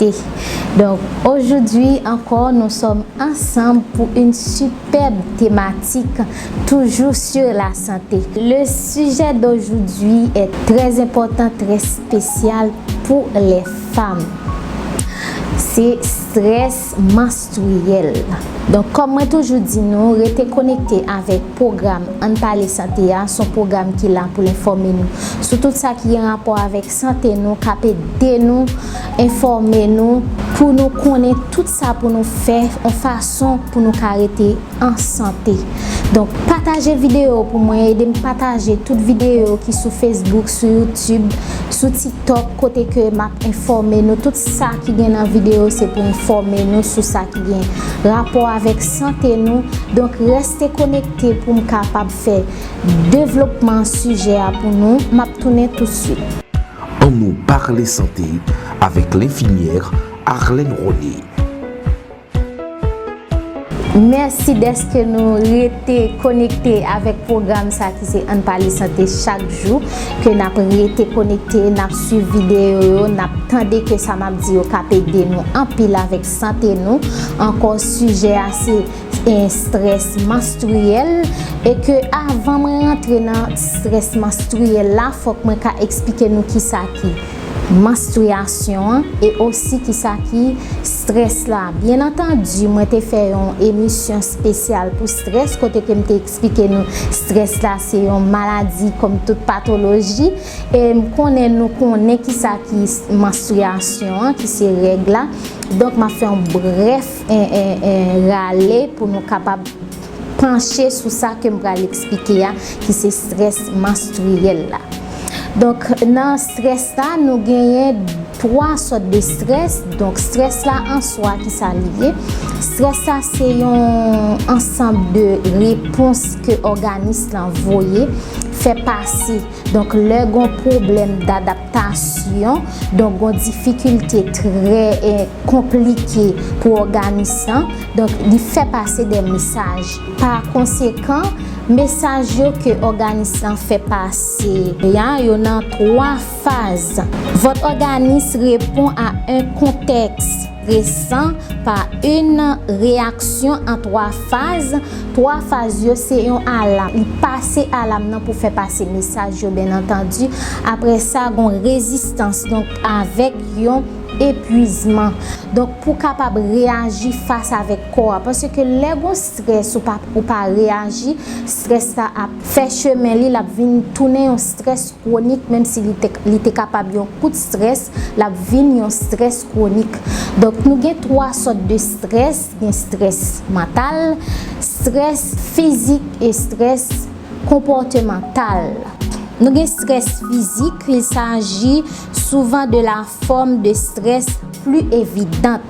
te. Donk ojoudwi ankò nou sòm ansanm pou yn sipèb tematik toujou sur la sante. Le sujet d'aujoudwi è trè enpòtan trè spesyal pou lè fam. Se strès manstriyèl. Donk kòm mwen toujou di nou rete konekte avèk pwogram ann pale sante a son pwogram ki la pou l enfòme nou sou tout sa ki gen rapò avèk Sante nou, k ap ede nou, enfòme nou pou nou konnen tout sa pou nou fè yon fason pou nou ka rete an sante. Donk pataje videyo pou mwen, ede m pataje tout videyo ki sou Facebook, sou YouTube, sou TikTok kote ke m ap enfòme nou. Tout sa ki gen nan videyo se pou enfòme nou sou sa ki gen rapò avèk sante nou. Donk reste konekte pou m kapab fè. Devlopman sijè a pou nou, m ap tounen tousuit. An nou pale sante avèk lenfimyè Arlène Rony. Mèsi dèske nou rete konekte avèk pwogram sa ki se An n pale sante chak jou, ke n ap rete konekte, n ap swiv videyo yo, n ap tande ke sa m ap di yo k ap ede nou anpil avèk sante nou. Ankò sijè a se. gen strès manstriyèl e ke avan mwen rantre nan strès manstriyèl la fòk mwen ka eksplike nou kisa ki manstriyasyon an e osi kisa ki strès la. Byen antandi mwen te fè yon emisyon spesyal pou strès kote ke m te eksplike nou strès la se yon maladi kòm tout patoloji e m konnen nou konnen kisa ki manstriyasyon an ki se règ la donk m ap fè yon brèf rale pou nou kapab panche sou sa ke m pral eksplike a ki se strès manstriyèl la. Donk nan strès la nou genyen 3 sòt de strès. Donk strès la an swa ki sa li ye? Strès la se yon ansanm de repons ke òganis lan voye fè pase. Donk lè gon pwoblèm dadaptasyon, donk gon difikilte trè. konplike pou òganis lan, donk li fè pase de mesaj. Pa konsekan, mesaj yo ke òganis lan fè pase a yo nan 3 faz. Vòt òganis repon a 1 kontèks resan pa 1 reyaksyon an 3 faz. 3 faz yo se yon alam, li pase alam nan pou fè pase mesaj yo byen antandi, apre sa gon rezistans donk avèk yon. Epuizman. Donk pou kapab reyaji fas avèk kò a. Paske lè gon strès ou pa ou pa reyaji, strès la ap fè chemen li, l ap vin tounen yon strès kwonik menm si li te li te kapab yon kout strès, l ap vin yon strès kwonik. Donk nou gen 3 sòt de strès, gen strès mantal, strès fizik e strès konpòtemantal. Nou gen strès fizik, li saji. Souvan de la fòm de strès pli evidant.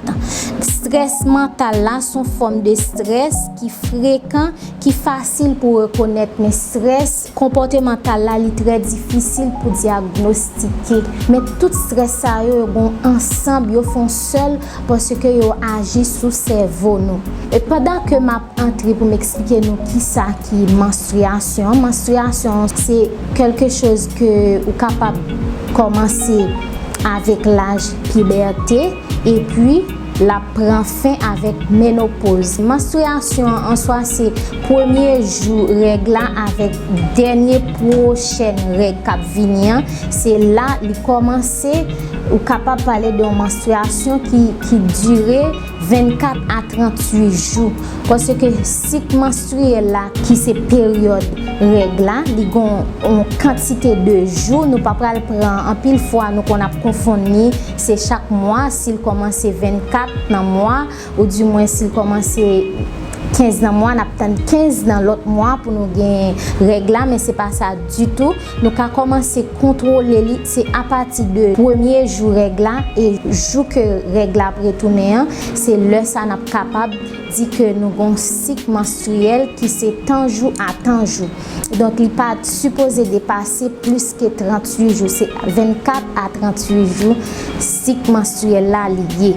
Strès mantal la son fòm de strès ki frekan ki fasil pou rekonèt men strès konpòtemantal la li trè difisil pou dyagnostike. Men tout strès sa yo yo gon ansanb yo fon sèl. Paske yo aji sou sèvo nou. E pandan ke m ap antre pou m eksplike nou kisa ki manstriyasyon, manstriyasyon se kelke choz ke ou kapab kòmanse avèk laj pibète epi l ap pran fen avèk menopoz. Manstriyasyon an answa se premye jou règ la avèk dènye pwochèn règ k ap vini an. Se la li kòmanse, ou kapab pale de yon manstriyasyon ki dire 24 a 38 jou. Paske sik manstriyèl la ki se peryòd règ la, li gen yon kantite de jou, nou pa pral pran, anpil fwa nou konn ap konfonn li, se chak mwa, si l kòmanse 24 nan mwa, Ou di mwen sil komanse 15 nan mwa nap tann 15 nan lot mwa pou nou gen reg la men se pa sa ditou nou ka komanse kontrole li se apati de premye jou reg la e jou ke reg la ap retounen an se lè sa nap kapab di ke nou gon sik manstriyel ki se tan jou a tan jou donk li pa sipoze depase plis ke 38 jou se 24 a 38 jou sik manstriyel la li ye.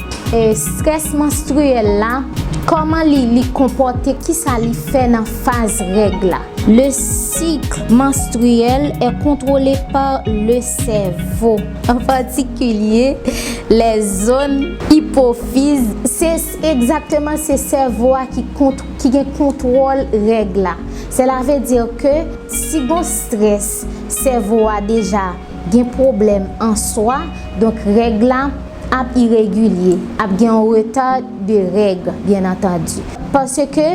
Strès manstriyèl la, kòman li konpòte, kisa li fè nan faz règ la? Le cycle menstruel est controle par le sèvo, an patikilye lè zòn ipofiz, se egzakteman se sèvo a ki gen kontwòl règ la, sela ve di ke si gon strès sèvo a deja gen pwoblèm an swa, donk règ la. ap iregilye, ap gen yon reta de règ byen antandi. Paske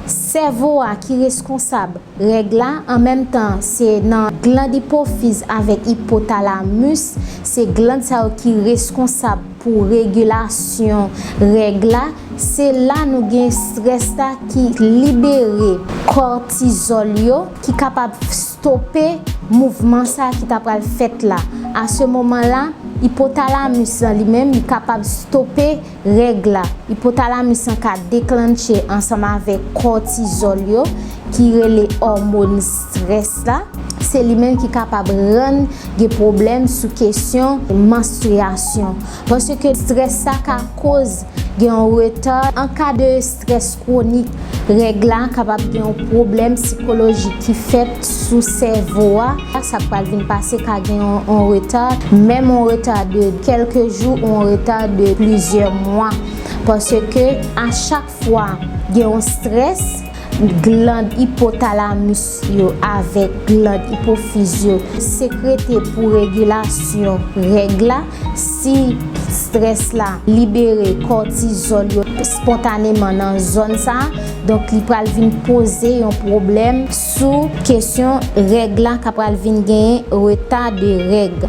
sèvo a ki reskonsab règ la an menm tan se nan gland ipofiz avèk ipotalamus, se gland sa yo ki reskonsab pou regilasyon règ la, se la nou gen estrès la ki libere kòtizòl yo ki kapab. stope mouvman sa ki ta pral fèt la. A se moman la, ipotalamus lan li menm li kapab stope règ la. Ipotalamus lan ka deklannche ansanm avèk kòtizòl yo ki rele òmon strès la. Se li menm ki kapab rann gen pwoblèm sou kesyon manstriyasyon. Paske strès sa ka koz gen yon reta. An ka de strès kwonik, règ la kapab gen yon pwoblèm sikolojik ki fèt sou sèvo a. Sa k pral vin pase ka gen yon reta, menm yon reta de kèlke jou ou yon reta de plizyè mwa. Paske a chak. fwa gen yon strès, gland ipotalamus yo avèk gland ipofiz yo sekrete pou regilasyon règ la, si strès la libere kòtizòl yo spontaneman nan zòn sa a, donk li pral vin poze yon pwoblèm sou kesyon règ la ka pral vin genyen reta de règ.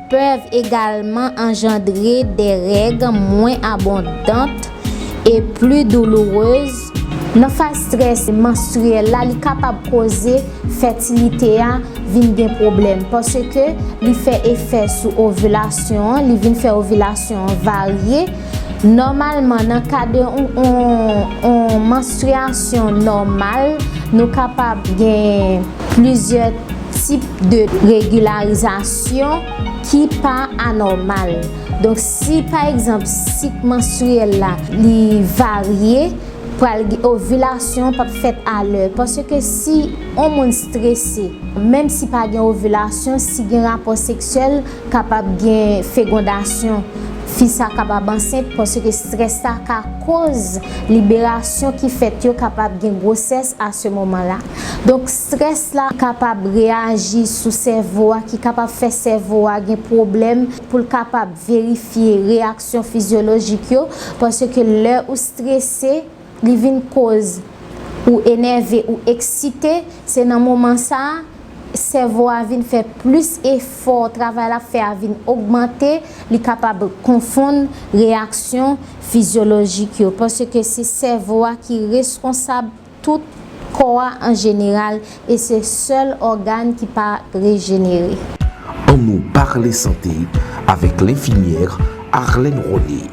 Pev egalman anjandre de règ mwen abondant e pli doulourez. Nan faz strès manstriyèl la li kapab koze fètilite a vin gen pwoblèm paske li fè efè sou ovilasyon an, li vin fè ovilasyon an varye. Nòmalman nan ka de yon manstriyasyon nòmal nou kapab gen plizyè. tip de regilarizasyon ki pa anòmal. Donk si pa egzanp sik manstriyèl la li varye, pral gen ovilasyon pap fèt alè paske si on moun strese menm si pa gen ovilasyon si gen rapò seksyèl kapab gen fegondasyon, fi sa kapab ansent paske strès sa ka koz liberasyon ki fèt yo kapab gen gwosès a se moman la. Strès la kapab reyaji sou sèvo a ki kapab fè sèvo a gen pwoblèm pou l kapab verifye reyaksyon fizyolojik yo paske lè ou strese li vin koz ou enève ou eksite se nan moman sa a sèvo a vin fè plis efò travay l ap fè a vin ogmante li kapab konfonn reyaksyon fizyolojik yo paske se sèvo a ki reskonsab tout kò a an jeneral e se sèl ògàn ki pa rejenere. An nou parle sante avèk lenfimyè Arlène Rony.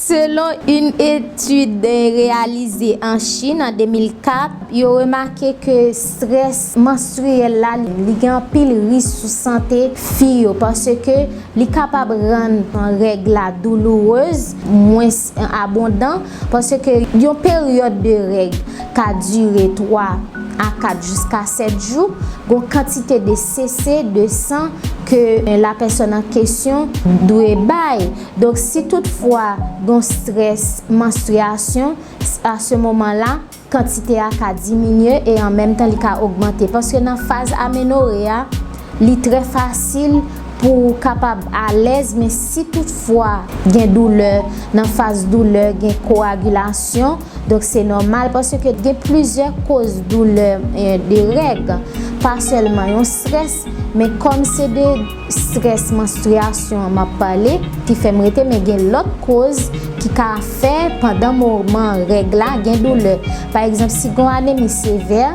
Selon yn etid reyalize an Chine an 2004, yo remake ke strès manstriyèl la li gen anpil risk sou sante fi yo paske, Li kapab rann règ la doulourez, mwens abondan, paske yon peryòd de règ ka dire 3 a 4 jiska 7 jou, gon kantite de sese de san ke lapèsòn an kesyon dwe bay. Donk si tout fwa gon strès manstriyasyon a se moman la. kantite a ka diminye e an menm tan li ka ogmante paske nan faz amenore a li trè fasil pou ou kapab alèz men si tout fwa gen doulè nan faz doulè gen koagilasyon donk se nòmal paske gen plizyè koz doulè de règ pa sèlman yon strès men kòm se de strès manstriyasyon an map pale ki fèm rete men gen lòt koz ki ka fè pandan moman règ la gen doulè pa egzanp si gon anemi sevè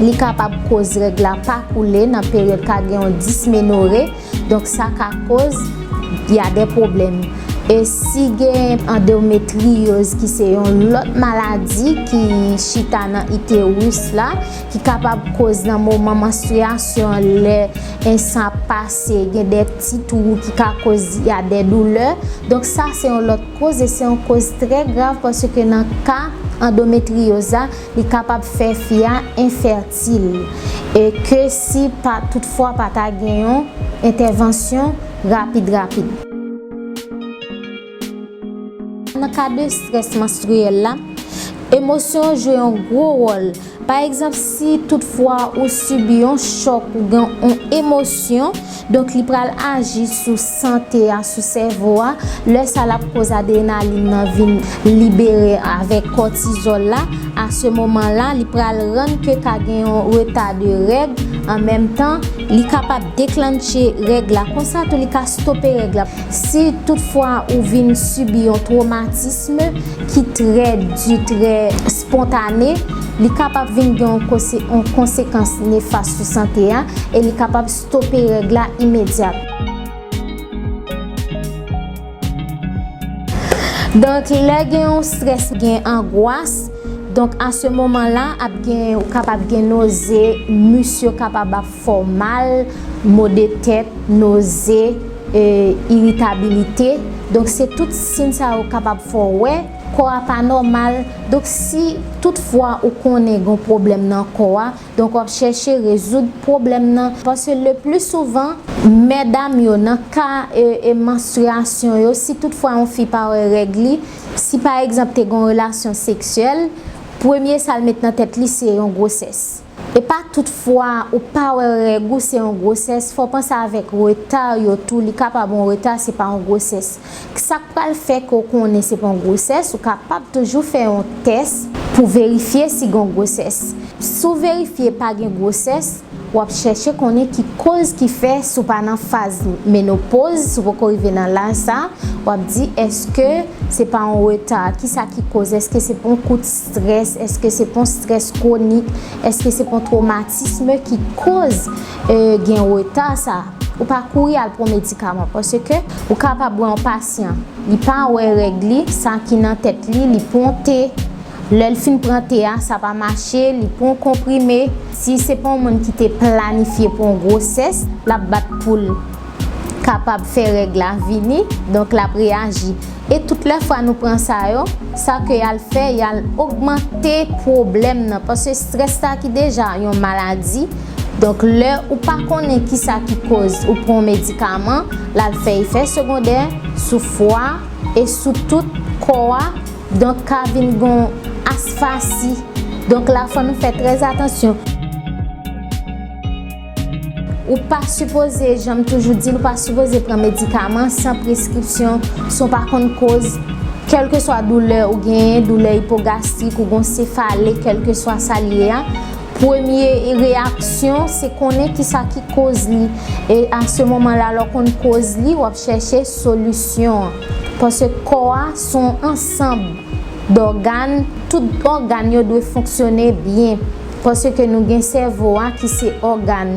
li kapab koz règ la pa koule nan peryòd ka gen yon dismenore donk sa ka koz ya de pwoblèm e si gen andometriyoz ki se yon lòt maladi ki chita nan iterus la ki kapab koz nan moman manstriyasyon lè en san ap pase gen de pti twou ki ka koz ya de doulè donk sa se yon lòt koz e se yon koz trè grav paske nan ka andometriyoz a li kapab fè fi a enfètil e ke si pa tout fwa pa ta gen yon entèvansyon rapid rapid. Nan ka de strès manstriyèl la, emosyon yo jwe yon gwo wòl. Pa egzanp, si tout fwa ou sibi yon chòk ou gen yon emosyon, donk li pral aji sou sante a, sou sèvo a, lè sa l ap koz adrenalin nan vin libere avèk kòtizòl la, a se moman la li pral rann ke ka gen yon reta de règ, an menm tan li kapab deklannche règ la, konsa tou li ka stope règ la. Si tout fwa ou vin sibi yon twomatism ki trè di, trè spontane, li kapab vin gen yon konsekans nefas sou sante a e li kapab stope règ la imedyat. Donk lè gen yon strès gen angwas, donk a se moman la ap gen ou kapab gen noze, mis yo kapab ap. Fè w mal, maux de tête, nausée, irritabilité, donk se tout siy sa yo kapab fè w wè kò a pa nòmal, donk si tout fwa ou konnen gen yon pwoblèm nan kò a, donk wap chèche rezoud pwoblèm nan, paske le pli souvan mèdam yo nan ka manstriyasyon yo si tout fwa yon fi pa wè règ li, si pa egzanp te gen yon relasyon seksyèl, premye sal met nan tèt li se yon gwosès. Epa tout fwa ou pa wè règ ou se yon gwosès fò panse avèk reta yo tou li kapab yon reta se pa yon gwosès sak pral fè ke w konnen se pa yon gwosès ou kapab toujou fè yon tès pou verifye si gen yon gwosès si w verifye pa gen gwosès wap chèche konnen ki koz ki fè si w pa nan faz menopoz si w poko rive nan laj sa wap di èske se pa yon reta kisa ki koz èske se pa yon kout. Strès, èske se pa yon strès kwonik, èske se pa yon twomatisme ki koz gen reta sa? Ou pa kouri al pran medikaman paske ou kapab wè yon pasyan li pa wè règ li, sa ki nan tèt li, li pran te, lè l fin pran te a sa pa mache, li pran yon konprime, si se pa yon moun ki te planifye pou yon gwosès, l ap bat poul kapab fè règ la vini, donk l ap reyaji. E tout lè fwa nou pran sa yo, sa ke yal fè yal ogmante pwoblèm nan paske strès sa ki deja yon maladi, donk lè ou pa konnen kisa ki koz ou pran yon medikaman, lal fè efè segondè sou fwa e sou tout kò a, donk ka vin gon asfasi, donk la fò nou fè trè atansyon. Ou pa sipoze, janm toujou di l, ou pa sipoze pran medikaman san preskripsyon si w pa konn koz kèlkeswa doulè ou genyen, doulè ipogastrik ou gon sefale kèlkeswa sa l ye a. Premye reyaksyon se konnen kisa ki koz li e a se moman la lè w konn koz li w ap chèche solisyon an. Paske kò a se yon ansanb dògàn, tout ògàn yo dwe fonksyone byen. Paske nou gen sèvo a ki se ògàn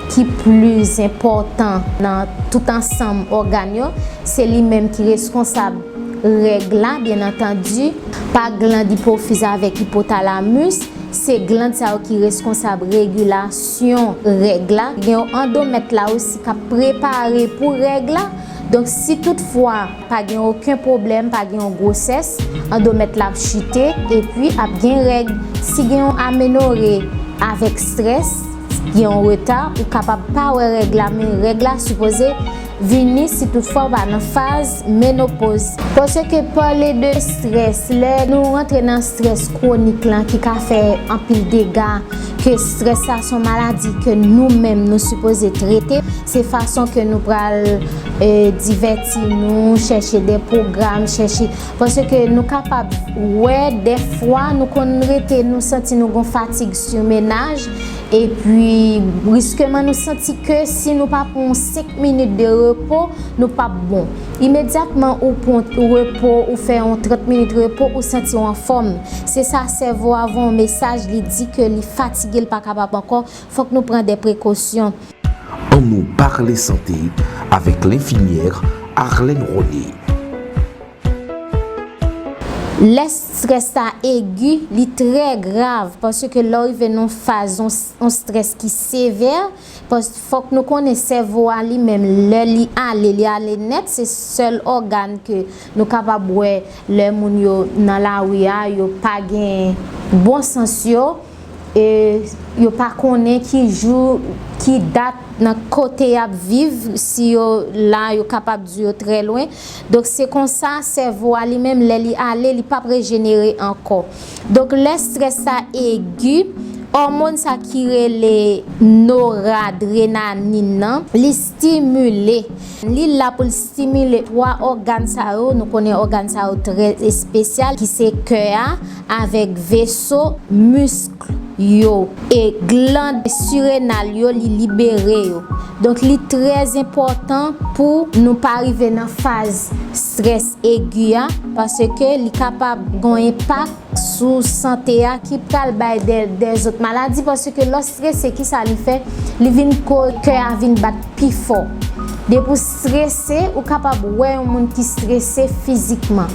ki pli zenpòtan nan tout ansanm ògàn yo, se li menm ki reskonsab règ la, byennantandi, pa gland ipofiz avèk ipotalamus, se gland sa yo ki reskonsab regilasyon règ la, gen yon andomèt la osi k ap prepare pou règ la, donk si tout fwa. pa gen oken pwoblèm, pa gen yon gwosès, andomèt la ap chite epi ap gen règ. Si gen yon amenore avèk strès, gen yon reta, ou kapab pa wè règ la men règ la sipoze vini si tout fwa ou pa nan faz menopoz. Paske pale de strès, lè nou rantre nan strès kwonik lan ki ka fè anpil dega, ke strès sa son maladi ke nou menm nou sipoze trete, se fason ke nou pral divèti. Si nou chèche de pwogram, chèche, panse ke nou kapab wè de fwa nou konn rete nou santi nou gon fatig su menaj e pi briskeman nou santi ke si nou pa pran yon 5 minit de repo nou pap bon. Imedyatman ou pran yon repo, ou fè yon 30 minit repo ou santi w anfòm. Se sa sèvo a voye yon mesaj li di ke li fatige li pa kapab ankò, fòk nou pran de prekosyon. Annou parle sante avèk lenfimyè Arlène Rony. Lè strès sa egi, li trè grav paske lè w rive nan yon faz yon strès ki sevè, fòk nou konnen sèvo a li menm lè li ale, li ale nèt, se sèl ògàn ke nou kapab wè lè moun yo nan lari a, yo pa gen bon sans yo. E yo pa konnen ki jou, ki dat, nan kote y ap viv, si yo la yo kapab di yo trè lwen. Donk se konsa sèvo a li menm lè li ale li pap rejenere ankò. Donk lè strès sa egi, òmon sa ki rele noradrenanin nan li. stimile. Li la pou l stimile 3 ògàn sa yo, nou konnen ògàn sa yo trè espesyal ki se kè a avèk veso miskle yo e gland sirenal yo li libere yo. Donk li trè enpòtan pou nou pa rive nan faz strès egi a paske li kapab gon enpak. sou sante a ki pral bay dè zòt maladi paske lè w strese ki sa li fè li vin ko kè a vin bat pi fò depi w strese ou kapab wè yon moun ki strese fizikman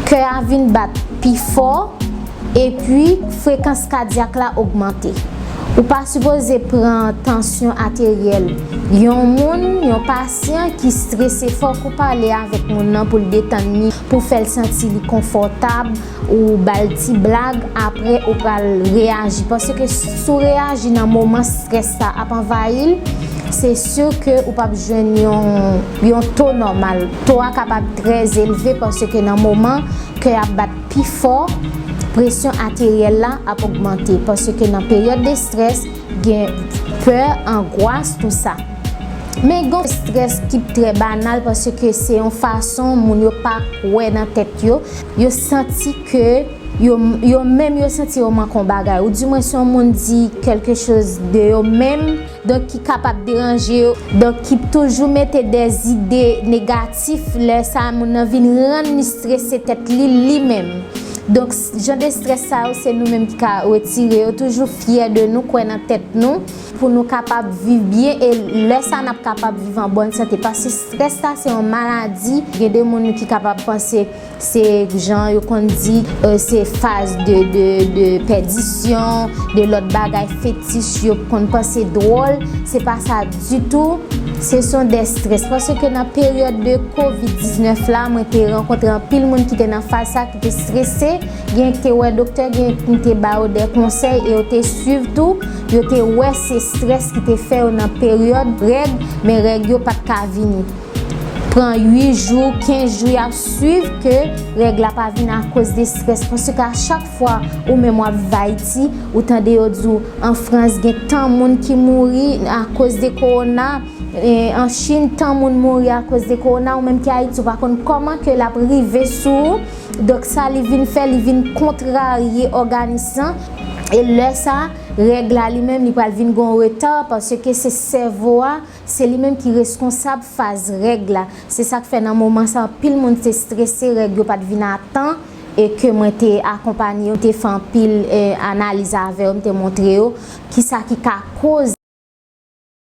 kè a vin bat pi fò epi frekans kadyak la ogmante ou pa sipoze pran tansyon ateryèl yon moun yon pasyan ki strese fòk ou pale avèk moun nan pou l detann li. pou fè l santi li konfòtab ou ba l ti blag aprè ou pral reyaji paske si w reyaji nan moman strès sa ap anvayi l se si ke ou pap jwenn yon to nòmal to a kapab trè elve paske nan moman kè ap bat pi fò presyon ateryèl la ap ogmante paske nan peryòd de strès. Gen pè, angwas, tou sa. Men gen yon estrès ki trè banal paske se yon fason moun yo pa kwè nan tèt yo. Yo santi ke yo menm yo santi yo manke yon bagay. Ou di mwen si yon moun di kelke choz de yo menm, donk ki kapab deranje yo, donk ki toujou mete de zide negatif, lè sa moun nan vin rann li strese tèt li, li menm. Donk. Jan de stress sa yo se nou menm ki ka retire yo toujou fyè de nou kwè nan tèt nou pou nou kapab viv byen e lè sa nap kapab viv an bòn sante paske stress la se yon maladi gen de moun ki kapab panse se jan yo konn di se faz de pèdisyon de lòt bagay fetich yo konn panse dwòl se pa sa ditou se son de stress paske nan peryòd de covid 19 la mwen te rankontre anpil moun ki te nan faz sa. Yo te strese, genyen ki te wè doktè, genyen ki te ba yo de konsèy e yo te swiv tou, yo te wè se strès ki te fè yo nan peryòd règ men règ yo pat ka vini. Pran 8 jou, 15 jou yap swiv ke règ la pa vini akoz de strès paske a chak fwa ou menm wap viv Ayiti ou tande yo di w an Frans gen tan moun ki mouri akoz de kowona. An chine tan moun mouri a koz de korona ou menm ki ayiti ou pa konn koman ke lap rive sou ou donk sa li vin fè li vin kontrarye òganis lan e lè sa règ la li menm li pral vin gon reta paske se sèvo a se li menm ki reskonsab faz règ la se sak fè nan moman sa anpil moun te strese règ yo pat vin a tan e ke mwen te akonpanye yo te fè anpil analiz avè yo m te montre yo kisa ki ka koz.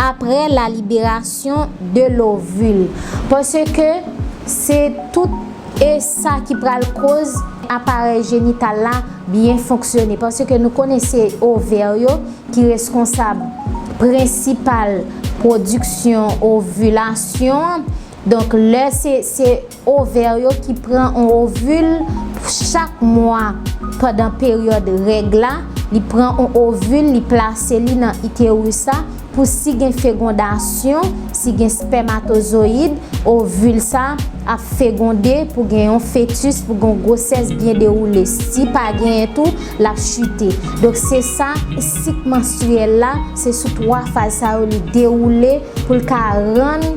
aprè la liberasyon de lovil paske se tout e sa ki pral koz aparèy jenital la byen fonksyone paske nou konnen se ovè yo ki reskonsab prensipal pwodiksyon ovilasyon donk lè se. Ovè yo ki pran on ovil chak mwa pandan peryòd règ la, li pran on ovil li plase li nan iteris la pou si gen fegondasyon, si gen spèmatozoyid, ovil sa ap fegonde pou gen yon fetis, pou gen yon gwosès byen dewoule. Si pa genyen tou, l ap chite. Donk se sa sik manstriyèl la, se sou 3 faz sa yo li dewoule pou l ka rann.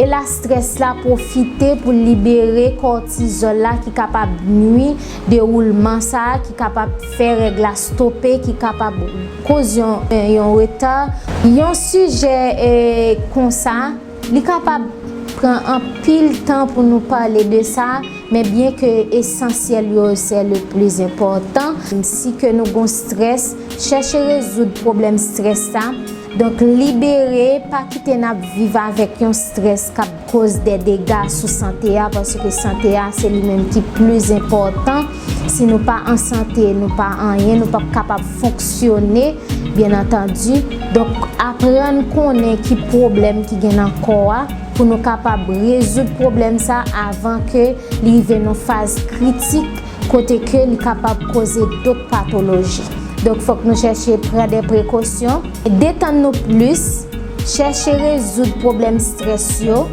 Elas strès la pwofite pou l libere kòtizòl la ki kapab nwi dewoulman sa ki kapab fè règ la stope ki kapab koz yon reta. Yon sijè konsa li kapab pran anpil tan pou nou pale de sa men byen ke esansyèl yo se le plis enpòtan si ke nou gon strès chèche rezoud pwoblèm strès sa. Donk libere, pa kite n ap viv avèk yon strès k ap koz dè dega sou sante a paske sante a se li menm ki pli enpòtan. Si nou pa an sante, nou pa anyen, nou p ap kapab fonksyone byen antandi. Donk aprann konnen ki pwoblèm ki gen nan kò a pou nou kapab rezoud pwoblèm sa avan ke li rive nan faz kritik. kote ke li kapab koze dot patoloji. Donk fok nou chèche pran de prekosyon, detann nou plis, chèche rezoud pwoblèm strès yo,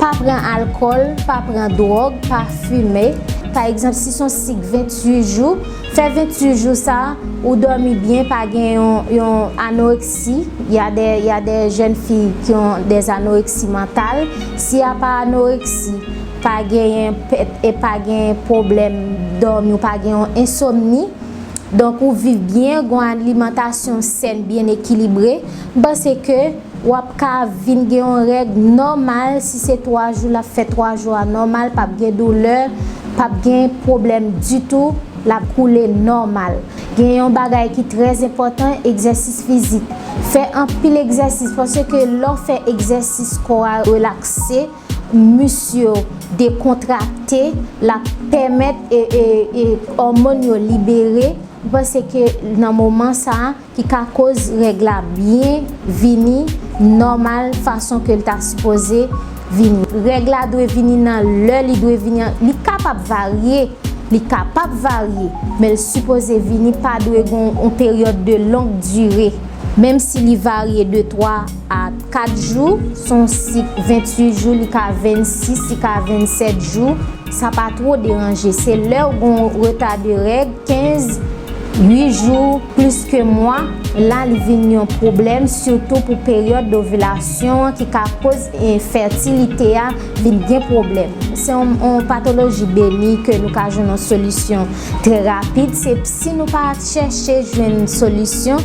pa pran alkòl, pa pran dwòg, pa fime. Pa egzanp si son sik 28 jou, fè 28 jou sa ou dòmi byen pa gen yon anoreksi, ya de jèn fi ki yon de anoreksi mantal, si ya pa anoreksi, pa genyen e pa genyen pwoblèm dòmi ou pa gen yon ensomni donk ou viv byen gon alimantasyon sèn byen ekilibre m panse ke wap ka vin gen yon règ nòmal si se 3 jou lap fè 3 jou a nòmal pap gen doulè pap gen pwoblèm ditou lap koule nòmal gen yon bagay ki trè enpòtan egzèsis fizik fè anpil egzèsis paske lè w fè egzèsis kò a relakse. Muscle yo dekontrakte, lap pèmèt òmòn yo libere, nou panse ke nan moman sa ki ka koz règ la byen vini nòmal fason ke li ta sipoze vini. Règ la dwe vini nan lè li dwe vini an, li kapab varye, li kapab varye, men li sipoze vini pa dwe gen yon peryòd de long dire, menm si li varye de 3. A 4 jou, son sik 28 jou li ka 26 li ka 27 jou, sa pa two deranje se lèw gon reta de règ 15 8 jou plis ke mwa la li vin yon pwoblèm sitou pou peryòd dovilasyon an ki ka koz enfètilite a vin gen pwoblèm se yon patoloji beni ke nou ka jwenn yon solisyon trè rapid se. Si nou pa chèche jwenn solisyon,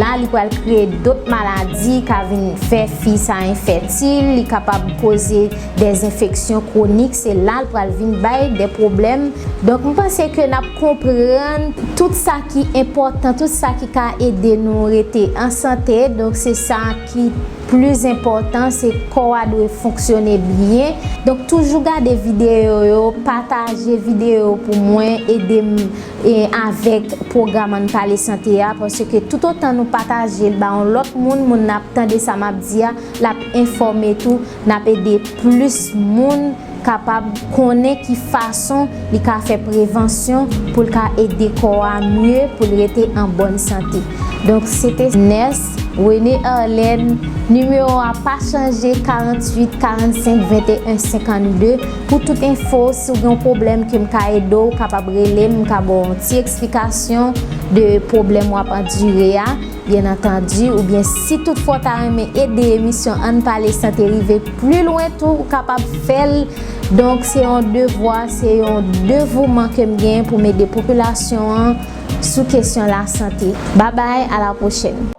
la li pral kreye dot maladi ka vin fè fi sa enfètil, li kapab koze de zenfeksyon kwonik, se la l pral vin bay de pwoblèm. Donk m panse ke n ap konprann tout sa ki enpòtan, tout sa ki ka ede nou rete an sante, donk se sa ki pli enpòtan, se kò a dwe fonksyone byen. Donk toujou gade videyo yo, pataje videyo pou mwen, ede m. avèk pwogram ann pale sante a paske tout otan nou pataje l ba yon lòt moun moun nan ap tande sa map di a l ap enfòme tou n ap ede plis moun kapab konnen ki fason li ka fè prevansyon pou l ka ede kò a mye pou l rete an bòn sante donk se te nès René Arlène nimewo a pa chanje 48 45 21 52. Pou tout enfo si w gen yon pwoblèm ke m ka ede w ou kapab rele m m ka ba w yon ti eksplikasyon de pwoblèm wap andire a byen antandi oubyen si tout fwa w ta renmen ede emisyon ann pale sante rive pli lwen tou ou kapab fè l donk se yon devwa se yon devouman ke m gen pou m ede popilasyon an sou kesyon lasante. Babay a la pwochèn.